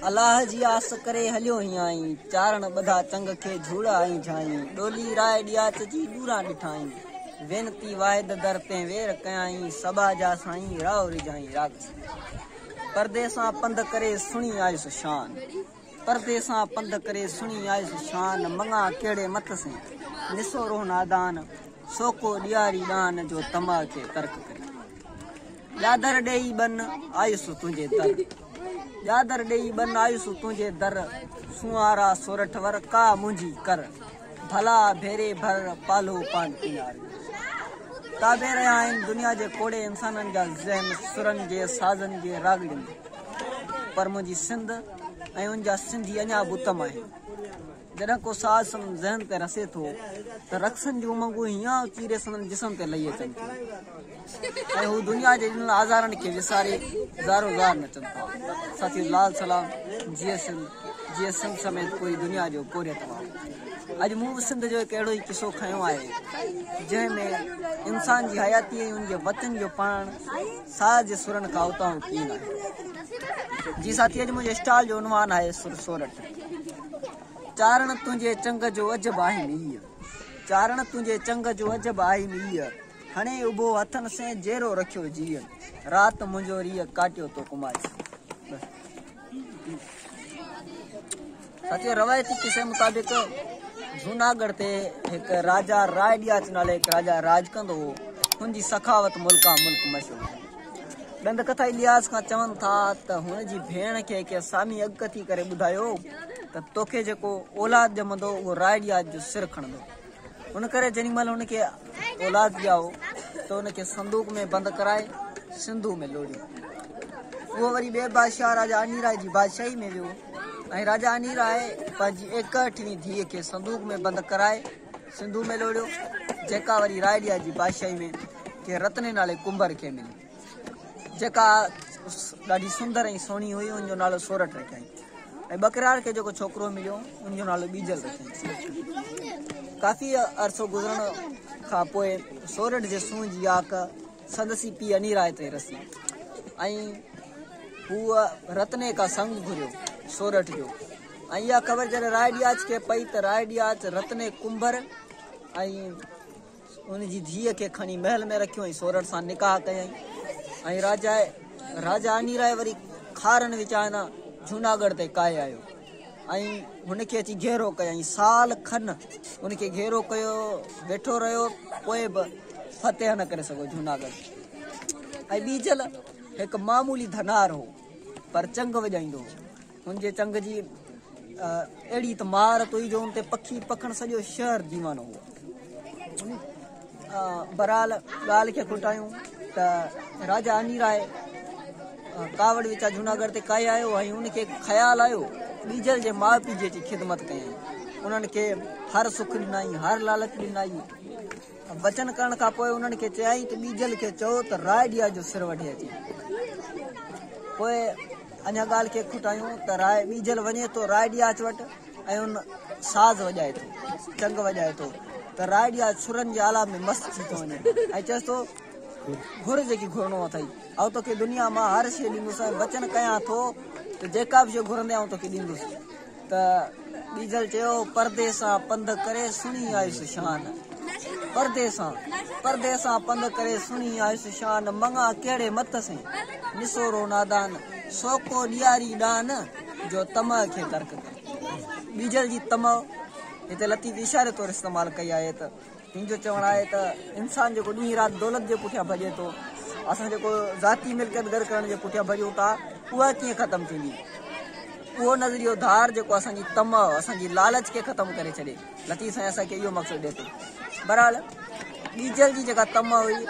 الله جي آس ڪري هليو هيائين، چارڻ ٻڌا چنگ کي جهوڙ آئين جهائين، ڏولي راء ڏياچ جي ڏوران ڏٺائين، وينتي واحد در تين وير ڪيائين، صبا جا سائين راء رجهائين، راڳ سنڌي، پردي سان پنڌ ڪري سڻي آيس شان. پردي سان پنڌ ڪري سڻي آيس شان، مڱان ڪهڙي مٿ سين، نسو روح نادان، سو ڪو ڏياري ڏان، جو طمع کي ترڪ ڪري. ڄاڌر ڏيئي ٻن آيس تنهنجي در، ڄاڌر ڏيئي ٻن آيس تنهنجي در، سونهارا سورٺ ور ڪا منهنجي ڪر. ڀلا ڀيري ڀر پالهو پان پيناري تابع رهيا آهن دنيا جي ڪوڙي انسانن جا ذهن سرن جي سازن جي راڳڙين پر منهنجي سنڌ ۽ ان جا سنڌي اڃا به اتم آهن جڏهن ڪو ساز سندن ذهن تي رسي ٿو ته رقصن جون امنگون هينئن اچي ري سندن جسم تي لهي اچن ٿيون. ۽ هو دنيا جي ڏنل آزارن کي وساري زارو زار نچن ٿا ساٿيو لال سلام جيئي سنڌ جيئي سنڌ سميت پوري دنيا جو پورهيت وارو اڄ مون به سنڌ جو هڪ اهڙو ئي قصو کنيو آهي جنهن ۾ انسان جي حياتي ۽ ان جي وچن جو پڙهڻ ساز جي سرن کان اتاهو ڪين آهي جي ساٿي اڄ منهنجي اسٽال جو عنوان آهي سر سورٺ چارڻ تنهنجي چنگ جو عجب آهي ميئي چارڻ تنهنجي چنگ جو عجب آهي ميئي کڻي اڀو هٿن سين جيرو رکيو جيئن رات منهنجو ريء ڪاٽيو تو ڪماري سچي روايتي قصي مطابق جوناگڙھ تي هڪ راجا راء ڏياچ نالي هڪ راجا راج ڪندو هو هن جي سخاوت ملڪا ملڪ مشهور ڏند ڪٿائي لياز کان چون ٿا ته هن جي ڀيڻ کي ڪنهن سامي اڳڪٿي ڪري ٻڌايو ته توکي جيڪو اولاد ڄمندو اهو راء ڏياچ جو سر کڻندو ان ڪري جيڏي مهل هن کي اولاد ڄائو ته ان کي صندوق ۾ بند ڪرائي سنڌوء ۾ لوڙيو. اهو وري ٻئي بادشاهه راجا انيراء جي بادشاهي ۾ ويو ۽ راجا انيراء پنهنجي ايڪهٺڙين ڌيء کي صندوق ۾ بند ڪرائي سنڌوء ۾ لوڙيو، جيڪا وري رائليا جي بادشاهي ۾ ڪنهن رتني نالي ڪنڀر کي ملي. جيڪا ڏاڍي سندر ۽ سهڻي هئي ان جو نالو سورٺ رکيائين ۽ ٻڪرار کي جيڪو ڇوڪرو مليو ان جو نالو ٻيجل رکيائين ڪافي عرصو گذرڻ کان پوء سورٺ جي سونهن جي آڪ سندس ئي پيء اني راء تي رسي ۽ هو رتني کا سڱ گهريو سورٺ جو ۽ اها خبر جڏهن راء ڏياچ کي پئي ته راء ڏياچ رتني ڪنڀر ۽ ان جي ڌيء کي کڻي محل ۾ رکيو ۽ سورٺ سان نڪاح ڪيائين ۽ راجا راجا انيرائي وري کارن وچان جوناڳڙهه تي ڪاهي آيو ۽ هن کي اچي گهيرو ڪيائين سال کن ان کي گهيرو ڪيو ويٺو رهيو پوء به فتح نه ڪري سگهيو جوناڳڙهه ۽ ٻيجل هڪ معمولي ڌنار هو پر چنگ وڄائيندو هو هن جي چنگ جي اهڙي ته مهارت هئي جو ان تي پکي پکڻ سڄو شهر ديوانو هو. برحال ڳالهه کي کوٽايون ته راجا اني راء ڪاوڙ وچان جوناگڙھ تي ڪاهي آيو ۽ ان کي خيال آيو ٻيجل جي ماء پيء جي اچي خدمت ڪيائين انهن کي هر سک ڏنائين هر لالچ ڏنائين وچن ڪرڻ کان پوء انهن کي چيائين ته ٻيجل کي چئو ته رائڊيا جو سر وڍي اچي. پوء اڃا ڳالهه کي کٽايون ته راء ٻيجل وڃي ٿو رائڊياچ وٽ ۽ ان ساز وڄائي ٿو، چنگ وڄائي ٿو ته رائڊياچ سرن جي آلاپ ۾ مست ٿي ٿو وڃي ۽ چئس ٿو گهر جيڪي گهرڻو اٿئي، آئون توکي دنيا مان هر شيء ڏيندس ۽ وچن ڪيان ٿو ته جيڪا به شيء گهرندين آئون توکي ڏيندس. ته ٻيجل چيو، پردي سان پنڌ ڪري سڻي آيس شان. پردي سان، پردي سان پنڌ ڪري سڻي آيس شان، مڱان ڪهڙي مت سين، نسورو نادان، سوڪو ڏياري ڏان، جو طمع کي ترڪ ڪري. ٻيجل جي طمع هتي لطيف اشاري طور استعمال ڪئي آهي ته. هن جو چوڻ آهي ته انسان جيڪو ڏينهن رات دولت جي پٺيان ڀڄي ٿو، اسان جيڪو ذاتي ملڪيت گڏ ڪرڻ جي پٺيان ڀڄون ٿا، اها ڪيئن ختم ٿيندي؟ اهو نظريو ڌار جيڪو اسان جي طمع، اسان جي لالچ کي ختم ڪري ڇڏي. لطيف سائين اسان کي اهو مقصد ڏئي ٿو. بهرحال ڏيجل جي جيڪا طمع هئي،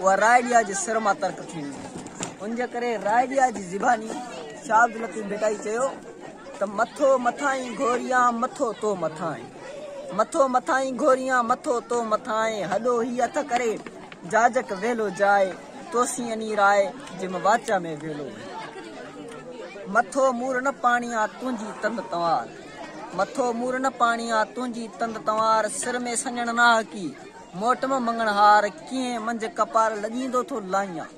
اها رائيڊيا جي سر مان ترڪ ٿي ويندي. ان جي ڪري رائيڊيا جي زباني شاهه عبداللطيف ڀٽائي چيو ته مٿو مٿائين گوريان مٿو تو مٿائين. مٿو مٿائين گهوريان مٿو تو مٿائين هڏو هي هٿ ڪري جاجڪ ويلو جاء توسين اني راء جم واچا ۾ ويلو مٿو مور نه پاڻيان تنهنجي تند تنوار مٿو مور نه پاڻيان تنهنجي تند تنوار سر ۾ سڃڻ ناهڪي موٽم مڱڻهار ڪيئن منجهه ڪپار لڄيندو ٿو لائيان.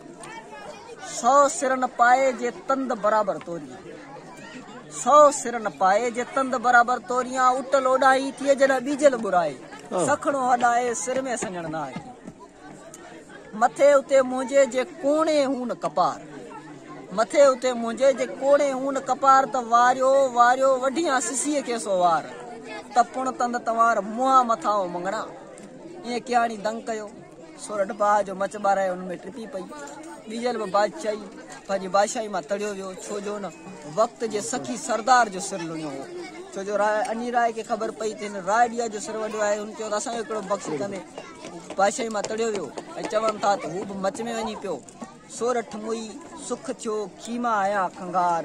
سو سر نه پائي جي تند برابر توريان سو سر نه پائي جي تند برابر توريان اٽل اوڏاهي ٿئي جڏهن ٻيجل ٻرائي سکڻو هڏائي سر ۾ سڃڻ نه آئي مٿي اتي منهنجي جي ڪوڻي هون ڪپار مٿي اتي منهنجي جي ڪوڻي هون ڪپار ته واريو واريو وڍيان سسي کي سو وار ته پڻ تند توار منهان مٿائون مڱڻا ائين ڪياڻي دنگ ڪيو سورٺ باهه جو مچ ٻارايو ان ۾ ٽپي پئي. ٻيجل به بادشاهي پنهنجي بادشاهي مان تڙيو ويو، ڇو جو ان وقت جي سخي سردار جو سر لڻيو هو. ڇو جو راء اني راء کي خبر پئي ته هن راء ڏيا جو سر وڍيو آهي. هن چيو ته اسان کي ڪهڙو بخشي ڪندي. هو بادشاهي مان تڙيو ويو ۽ چون ٿا ته هو به مچ ۾ وڃي پيو. سورٺ موئي سک ٿيو کيما آيا کنگهار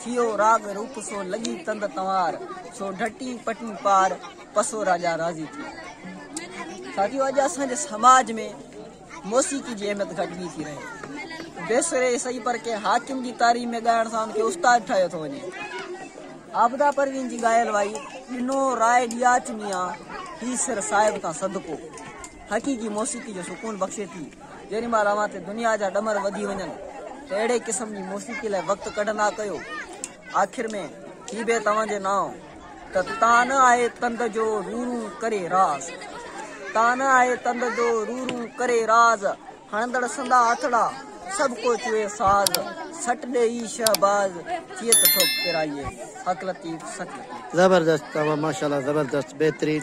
ٿيو راڳ روپ سو لڳي تند تنوار سو ڍٽي پٽي پار پسو راجا راضي ٿيو ساٿيو اڄ اسان جي سماج ۾ موسيقي جي اهميت گهٽجي ٿي رهي بيسري سهي پر ڪنهن حاڪم جي تاري ۾ ڳائڻ سان ان کي استاد ٺاهيو ٿو وڃي عابده پروين جي ڳايل وائي ڏنو راء ڏياچ ميان هي سر صاحب تان صدقو حقيقي موسيقي جو سڪون بخشي ٿي. جيڏيمهل اوهان تي دنيا جا ڏمر وڌي وڃن ته اهڙي قسم جي موسيقي لاء وقت ڪڍندا ڪيو. آخر ۾ هي بيت اوهان جي نانء ته تان آهي تند جو رون رون ڪري راز. تان آهي تند جو رون رون ڪري راز. هڻندڙ سندا آتڙا، سڀ ڪو چوئي ساز، سٽ ڏي اي شهباز، چيئي ته ٿو پيرائيي، هڪ لطيف سٽ لطيف. زبردست اوهان ماشاءالله زبردست بهترين.